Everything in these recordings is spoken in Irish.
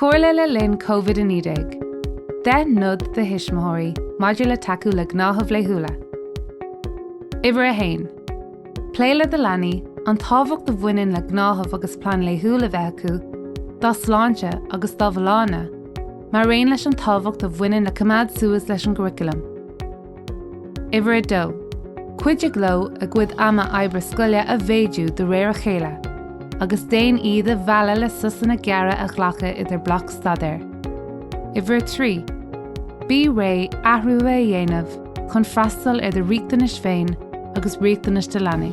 Comhairle le linn COVID-19, 10 nod do thuismitheoirí maidir le tacú le gnáthaimh laethúla. Uimhir a haon, Pléigh le do leanaí an tábhacht a bhaineann le gnáthamh agus plean laethúil a bheith acu dá sláinte agus dá bhfolláine, mar aon leis an tábhacht a bhaineann le coimeád suas leis an gcuraclam. Uimhir a dó, Cuidigh leo a gcuid ama oibre scoile a mhéadú de réir a chéile agus déan iad a mhealladh le sosanna gearra a ghlacadh idir bloic staidéir. Uimhir a trí, Bí réidh athruithe a dhéanamh chun freastal ar do riachtanais féin agus riachtanais do leanaí.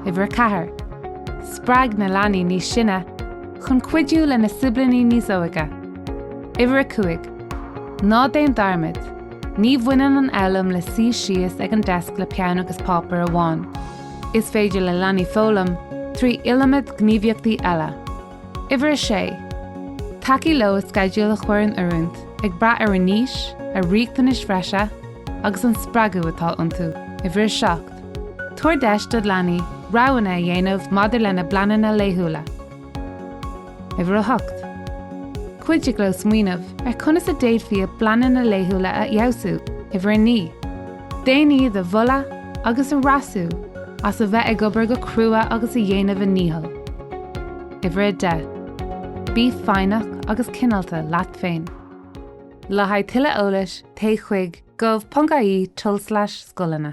Uimhir a ceathair, Spreag na leanaí níos sine chun cuidiú lena siblíní níos óige. Uimhir a cúig, Ná déan dearmad, ní bhaineann an fhoghlaim le suí síos ag an deasc le peann agus páipéar amháin. Is féidir le leanaí foghlaim trí iliomad gníomhaíochtaí eile. Uimhir a sé, Tacaigh leo sceideal a chur in oiriúint ag brath ar a n-aois, a riachtanais bhreise agus an spreagadh atá iontu. Uimhir a seacht, Tabhair deis do leanaí roghanna a dhéanamh maidir lena bpleananna laethúla. Uimhir a hocht. Cuidigh leo smaoineamh ar conas a d'fhéadfaí a bpleananna laethúla a fheabhsú. Uimhir a naoi. Déan iad a mholadh agus a dhreasú as a bheith ag obair go crua agus ag déanamh a ndícheall. Uimhir a deich. Bí foighneach agus cineálta leat féin. Le haghaidh tuilleadh eolais, téigh chuig, gov.ie, tulslais scoileanna.